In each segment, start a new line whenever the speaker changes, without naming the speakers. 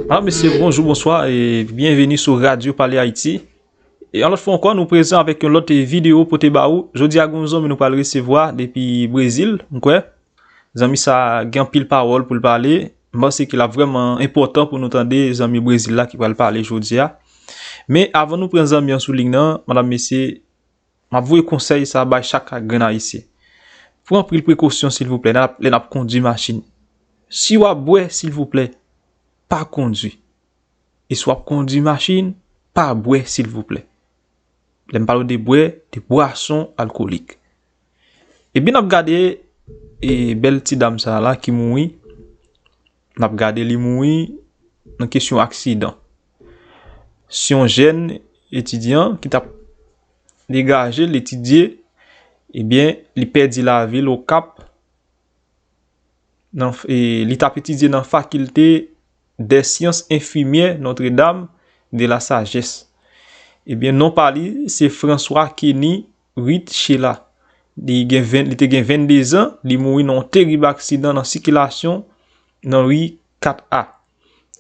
Alo mesye, bonjou, bonswa, e byenveni sou Radyo Pale Ayiti. E yon lòt fwa ankò, nou prezan avèk yon lòt videyo pote ba ou. Jodi a gen yon zanmi nou pral resevwa depi Brezil, m kwè. Zanmi sa a gen anpil pawòl pou l pale. M panse ke l ap vrèman enpòtan pou nou tande zanmi Brezil la ki pral pale jodi a. Men, avan nou pran zanmi an sou lig nan, madam, mesye, M ap voye konsèy sa bay chak grenn Ayisyen. Pran anpil prekosyon silvouplè lè n ap kondwi machin. Si w ap bwè silvouplè pa kondwi. E si w ap kondwi machin pa bwè silvouplè. Lè m pale de bwè, de bwason alkolik. Ebyen n ap gade bèl ti dam sa la ki mouri. N ap gade li mouri nan kesyon aksidan. Se yon jèn etidyan ki t ap degaje l etidye, ebyen li pèdi lavi l Okap, li t ap etidye nan fakilte dè syans enfimyè Notre Dame de la Sagesse. Ebyen non pa li se François Kenny. Rit Shela. Li te gen 22 zan, li mouri nan yon terib aksidan nan sikilasyon nan ri 4 A.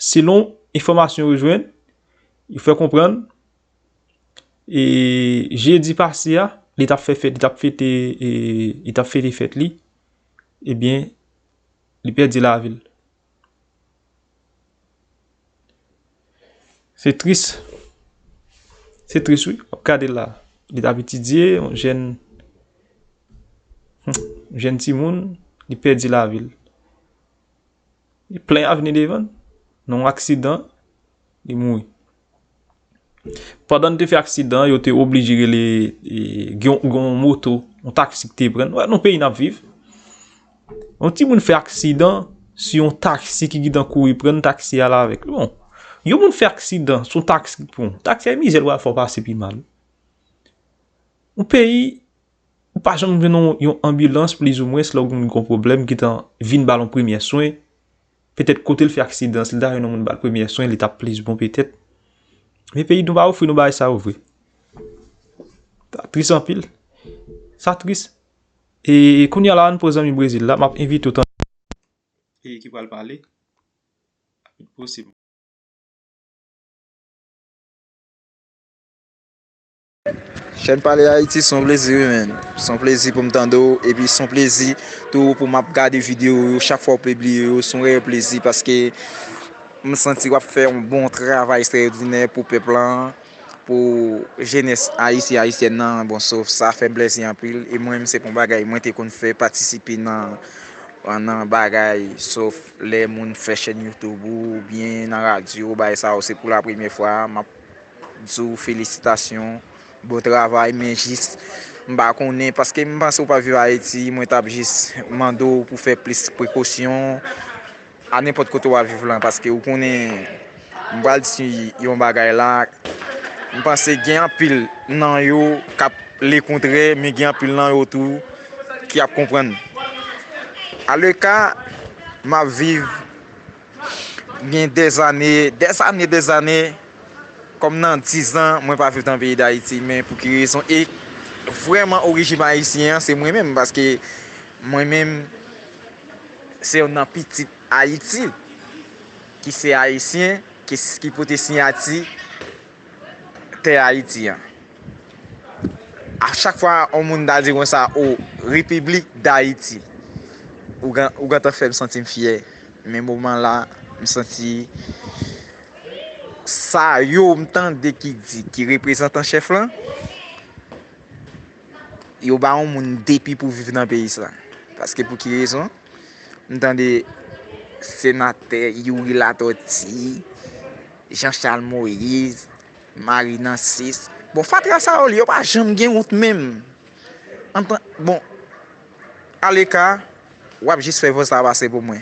Selon enfòmasyon yo jwenn, yo fè konprann, e jedi pase a, li tap fè fèt, li tap fete, li tap fete fèt li, ebyen, li pèdi lavi l. Se tris. Se tris wi. Wap gade la. Li tap etidye. Yon jèn. Yon jèn ti moun. Li pèdi la vil. Li plen avni devan. Non aksidan. Li moui. Pandan n te fè aksidan an, yo te oblije rele, gen yon moto, yon taksi ki te pran n. Wè nou peyi n ap viv. Yon timoun fè aksidan, se yon taksi ki gentan kouri pran n, taksi a ale avèk l. Bon, yon moun fè aksidan, se yon taksi ki pran w. Taksi a mizè l wè a fè w pase pi mal. Yon peyi, ou pa janm jwenn yon anbilans plizoumwens lè w gen yon pwoblèm ki tan vin ba l yon premye swen. Petèt kote l fè aksidan, si l ta jwenn yon moun ba l premyè swen, li t ap plis bon petèt. Men peyi nou pa ofri nou bagay sa yo vre. Sa tris anpil. Sa tris. E kounye a la an pou zanmi Brezil la, m ap envite ou tande e ki pral pale.
Chèn pale Haïti son plezi wi menn, son plezi poum tande w epi son plezi tou pou map gade video w yo chak fwa w pibliye yo son reyèl plezi paske m santi wap fè yon bon travay estrèyodinè pou pèp lan pou jenès ayisyen ayisyèn nan bon so sa fèm plezi anpil e mwen menm se yon bagay mwen te konn fè patisipe nan nan bagay sof lè moun fè chèn youtube ou byen nan radyo bagay sa yo se pou la premye fwa map di w felisitasyon bon travay men jis m pa konnen paske m panse ou pa viv ayiti mwen t ap jis mande w pou w fè plis prekosyon a nenpòt kote w ap viv lan paske ou konnen m pral di yon bagay la m panse gen anpil nan yo k ap lekontrè men gen anpil nan yo tou ki ap konprann aleka m ap viv Gen dè zane, dè zane, dè zane, kòm nan dizan mwen pa viv nan peyi Dayiti men pou ki rezon e vrèman orijim ayisyen an se mwen menm paske mwen menm se youn nan pitit Ayiti ki se ayisyen ki pote siyati tè Ayiti an. A chak fwa yon moun ta di konsa o Repiblik Dayiti, ou gentan fè m santi m fyè. Men moman la, m santi sa yo m tande ki di ki reprezant an chèf lan, yo ba yon moun depi pou viv nan peyi sa. Paske pou ki rezon? M tande senatè Youri Latortue, Jean Charles Moïse, Marie Nancis. Bon fatra sa yo li yo pa janm gen wont menm. Antan bon aleka wap jis fè vòz la pase pou mwen.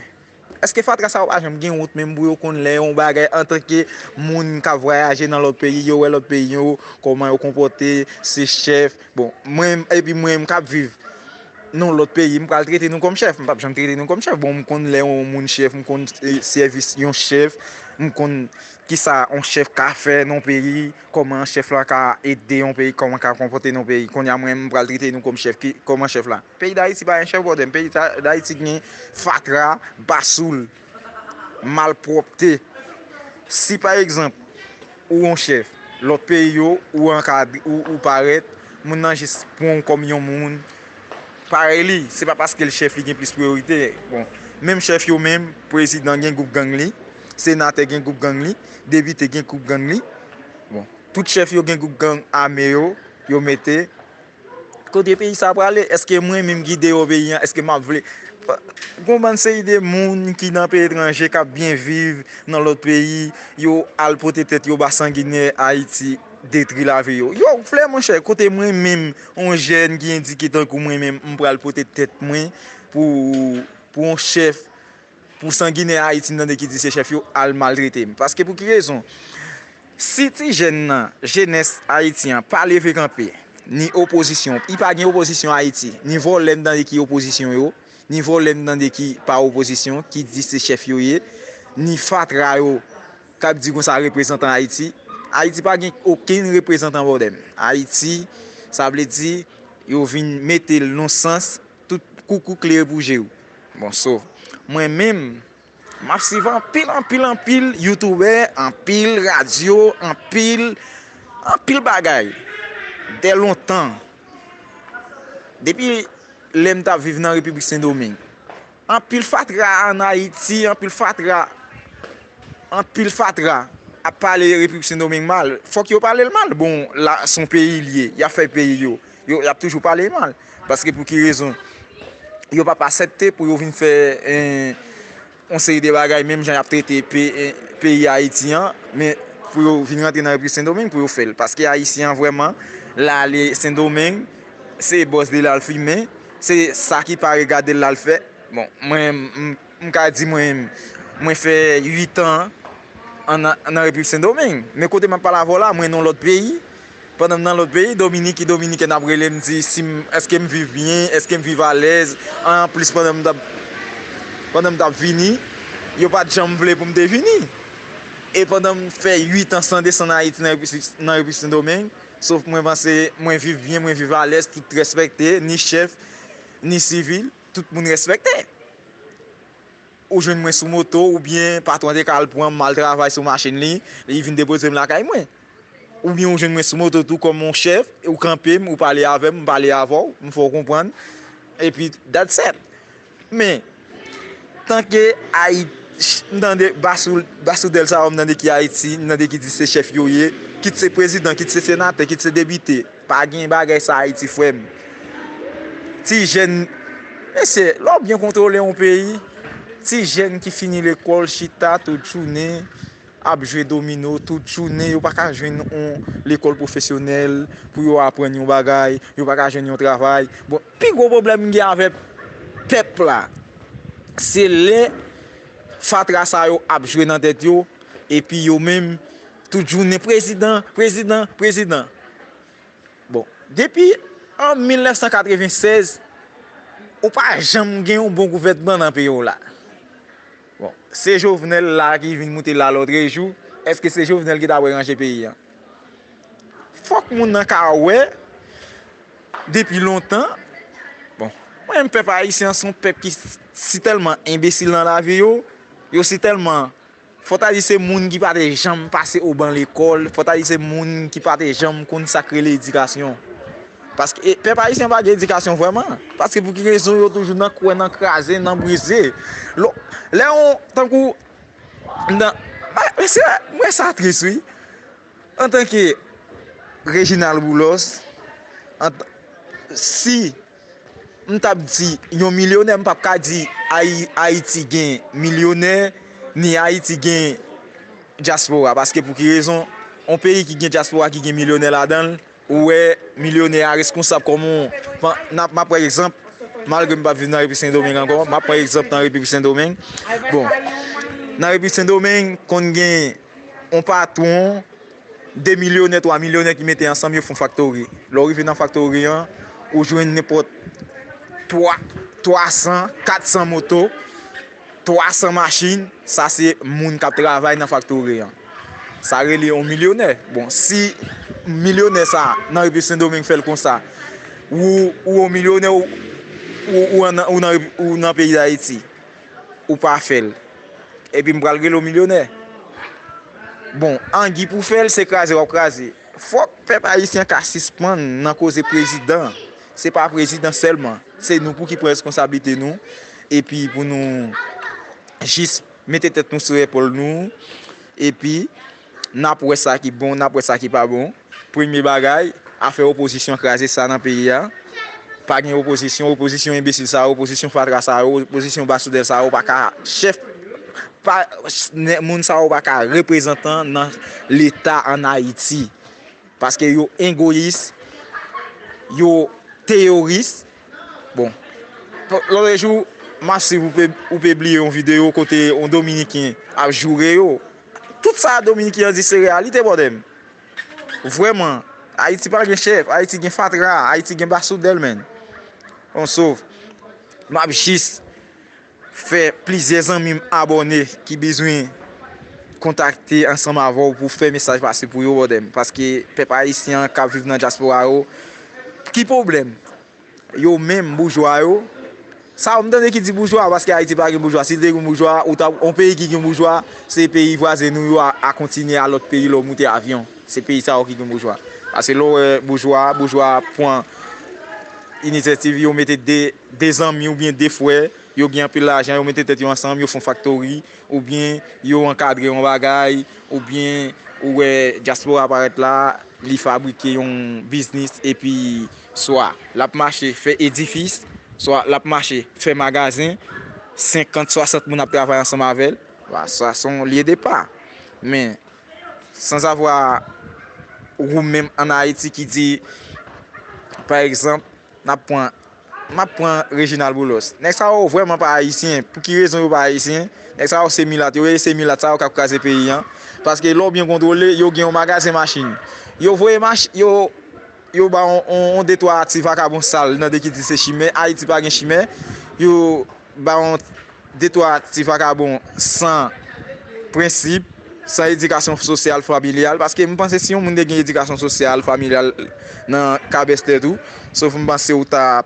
Eske fatra sa yo pa janm gen wont menm pou yo konn lè yon bagay antan ke moun kap vwayaje nan lòt peyi yo wè lòt peyi yo kòman yo konpòte se chèf. Bon, mwen, epi mwen menm kap viv nan lòt peyi, m pral trete nou kòm chèf? M pap janm trete nou kòm chèf. Bon, m konn lè yon moun chèf, m konn sèvis yon chèf, m konn kisa yon chèf ka fè nan yon peyi, kòman yon chèf la ka ede yon peyi, kòman l ka konpòte nan yon peyi. Kounye a mwen, m pral trete nou kòm chèf. Kòman chèf la? Peyi Dayiti pa gen chèf bòdè m. Peyi Dayiti gen fatra, basoul. malpwòpte. Si pa egzanp ou on chèf lòt peyi yo, ou ankadre, ou parèt, moun nan jis pran ou kòm yon moun parèy li. Se pa paske l chèf li gen plis priyorite. Bon, menm chèf yo menm, prezidan gen gwoup gang li, senatè gen gwoup gang li, depite gen gwoup gang li. Bon, tout chèf yo gen gwoup gang ame yo, yo mete. Kote peyi sa prale eske mwen minm ki deyo peyi an eske map vle gon bann seri de moun ki nan peyi etranje kap byen viv nan lot peyi yo al pote tet yo ba sanginè ayiti detri lavi yo yo vle monchè kote mwen minm yon jèn ki endike tankou mwen minm m pral pote tet mwen pou yon chèf Pou sanginè ayiti m tande ki di se chèf yo al maltrete m paske pou ki rezon si ti jèn nan jenès ayiti an pa leve kanpe ni opozisyon pi pa gen opozisyon ayiti ni vòlè m tande ki opozisyon yo ni vòlè m tande ki pa opozisyon ki di se chèf yo ye ni fatra yo kap di konsa reprezantan ayiti ayiti pa gen okenn reprezantan bòdè m ayiti sa vle di yo vin mete l non sans Tout koukou klere pou je ou. Bon so Mwen menm Map swiv anpil anpil anpil youtoube anpil radio anpil anpil bagay dè lontan depi lèm tap viv nan repiblik sendoming anpil fatra an ayiti anpil fatra anpil fatra ap pale repiblik sendoming mal fòk yo palel mal bon la son peyi liye yap fè peyi yo. Yo ap toujou pale mal. Paske pou ki rezon? Yo pap asepte pou yo vin fè yon seri de bagay menm jan y ap trete peyi Ayiti an, men pou yo vin rantre nan Repiblik Sendomeng pou yo fè l. Paske Ayisyen an vrèman, l ale Sendomeng, se bòs li l al fimen, se sa ki pa regade l l al fè. Bon, mwen. M ka di mwen mwen fè 8 an nan Repiblik Sendomeng. Men kote m ap pale avè w la, mwen nan yon lòt peyi. Pandan m nan lòt peyi, Dominiki Dominikèn ap rele m di si m èske m viv byen, èske m viv alèz. Anplis pandan m t ap pandan m t ap vini, yo pa t janm vle pou m te vini. E pandan m fè 8 an san desann Ayiti nan Repiblik Sendomeng, sof mwen panse mwen viv byen, mwen viv alèz, tout respekte, ni chèf, ni sivil, tout moun respekte. ou jwenn mwen sou moto oubyen patwon te ka al pran m mal travay sou machin li, li vin depoze m lakay mwen. Oubyen ou jwenn mwen sou moto tou kòm yon chèf, ou kanpe m, ou pale avè m, m pale avè w, m fè w konprann, epi that's that. Men, tanke Ayiti, m tande basoudèl sa yo m tande ki Ayiti, m tande ki di se chèf yo ye, kit se prezidan, kit se senatè, kit se depite. Pa gen bagay sa ayiti frèm. Ti jèn Mesye lè w byen kontwole yon peyi Ti jèn ki fini lekòl chita tout jounen ap jwe domino tout jounen yo pa ka jwenn yon lekòl pwofesyonèl pou yo aprann yon bagay yo pa ka jwenn yon travay bon pi gwo pwoblèm m gen avè pèp la se lè fatra sa yo ap jwe nan tèt yo epi yo menm Tout jounen prezidan, prezidan, prezidan. Bon, depi an 1996, ou pa janm gen yon bon gouvènman nan peyi w la. Bon, se Jovenel la ki vin moute la lòtrejou, èske se Jovenel ki ta wè ranje peyi an? Fòk moun nan ka wè, depi lontan, bon, mwen menm pèp ayisyen an se yon pèp ki si tèlman enbesil nan lavi yo, yo si tèlman. Fòtali se moun ki pa te janm pase o ban lekòl, Fòtali se moun ki pa te janm konn sa k rele edikasyon. Paske pèp ayisyen pa gen edikasyon vrèman. Paske pou ki rezon yo toujou nan kwè, nan kraze, nan brize. Lè yon, tankou, m wè sa tris wi. Antanke Reginald Boulos, si. M t ap di yon milyonè, m p ap ka di Ayiti gen milyonè, ni Ayiti gen dyaspora. Paske pou ki rezon? Yon peyi ki gen dyaspora, ki gen milyonè ladan l, ou wè milyonè a reskonsab kòm yon, m ap pran egzanp, malgre m pa viv nan Repiblik Sendomeng ankò, m ap pran egzanp nan Repiblik Sendomeng. Bon, nan Repiblik Sendomeng, konn gen yon patwon. 2 milyonè, 3 milyonè ki mete ansanm yo fon faktori. Lè w rive nan faktori an, ou jwenn nenpòt 3, 300, 400 moto, 300 machin, sa se moun k ap travay nan faktori an. Sa rele yon milyonè. Bon, si milyonè sa a nan Repiblik Sendomeng fè l konsa, ou yon milyonè ou nan peyi Dayiti. ou pa fèl epi m pral rele w milyonè bon angy pou fèl se kraze wap kraze fòk pèp ayisyen ka sispann nan koze prezidan se pa prezidan sèlman se nou pou ki pran reskonsablite nou epi pou nou jis mete tèt nou sou epòl nou epi N ap wè sa ki bon, n ap wè sa ki pa bon. Premye bagay, afè opozisyon kraze sa nan peyi a. Pa gen opozisyon, opozisyon enbesil sa yo, opozisyon fatra sa yo, opozisyon basoudèv sa yo pa ka chèf, moun sa yo pa ka reprezantan nan leta an Ayiti. Paske yo engoyis, yo teyoris. Bon, lòtrejou, m ap siv ou pe bliye yon videyo kote yon dominiken ap joure yo. Tout sa Dominique an di se reyalite bòdèm. Vrèman, Ayiti pa gen chèf, Ayiti gen fatra, Ayiti gen basoudèl menn. Bon so, m ap jis fè plizyè zanmi m abòne ki bezwen kontakte ansanm avè w pou w fè mesaj pase pou yo bòdèm. Paske pèp ayisyen an k ap viv nan dyaspora yo, ki pwoblèm? Yo menm boujwa yo. Sa ou m tande ki di boujwa paske ayiti pa gen boujwa si te gen boujwa ou ta on peyi ki gen boujwa se peyi vwazen nou yo a kontinye a lòt peyi lè ou moute avyon se peyi sa yo ki gen boujwa paske lè ou wè boujwa boujwa ap pran inisyativ yo mete de de zanmi ou byen de frè yo gen anpil lajan yo mete tèt yo ansanm yo fon faktori ou byen yo ankadre yon bagay ou byen ou wè dyaspora parèt la li fabrike yon biznis epi Swa l ap mache fè edifis, swa l ap mache fè magazen, senkant, swasant moun ap travay ansanm avè l. Sa se yon lye depa. Men, sanzavwa wou menm ann Ayiti ki di, pa egzanp, n ap pran, m ap pran Reginald Boulos. Nèg sa yo vrèman pa Ayisyen. Pou ki rezon yo pa Ayisyen? Nèg sa yo se milat. Yo rele se milat sa yo k ap kraze peyi an. Paske lè w byen kontwole, yo gen yon magazen machin. Yo voye machin, yo. Yo ba w yon de twa ti vakabon sal nan de ki di se chimè. Ayiti pa gen chimè. Yo ba w yon de twa ti vakabon san prensip, san edikasyon sosyal, familyal. Paske m panse si yon moun te gen edikasyon sosyal, familyal nan kabestè tou, sof m panse ou ta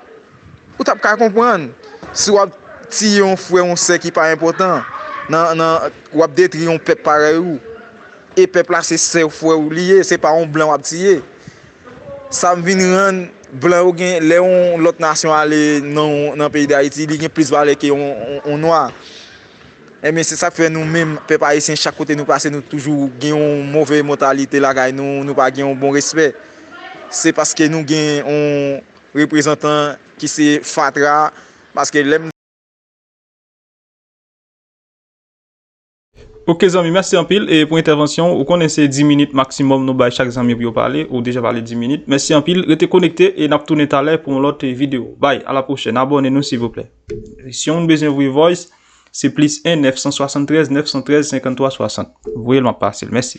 Ou t ap ka konprann si w ap tiye yon frè, yon sè ki pa enpòtan, w ap detri yon pèp parèy ou, e pèp la se sè ou, frè ou li ye, se pa yon blan w ap tiye. Sa vin rann blan yo gen, lè yon lòt nasyon ale nan peyi Dayiti, li gen plis valè ke yon nwa. Enben, se sa k fè nou menm, pèp ayisyen, chak kote nou pase, nou toujou gen yon move mantalite lakay nou, nou pa gen yon bon respè. Se paske nou gen yon. Reprezantan ki se fatra paske lèm.
Ok zanmi mèsi anpil pou entèvansyon ou ou konnen se 10 minit maksimòm nou bay chak zanmi pou yo pale ou deja pale 10 minit mèsi anpil rete konekte e nap tounen talè pou yon lòt video bay a la pwochèn abòne nou silvouplè si yon moun bezwen voye voice se plis 1 973 913 53 60 voyel map pasel mèsi.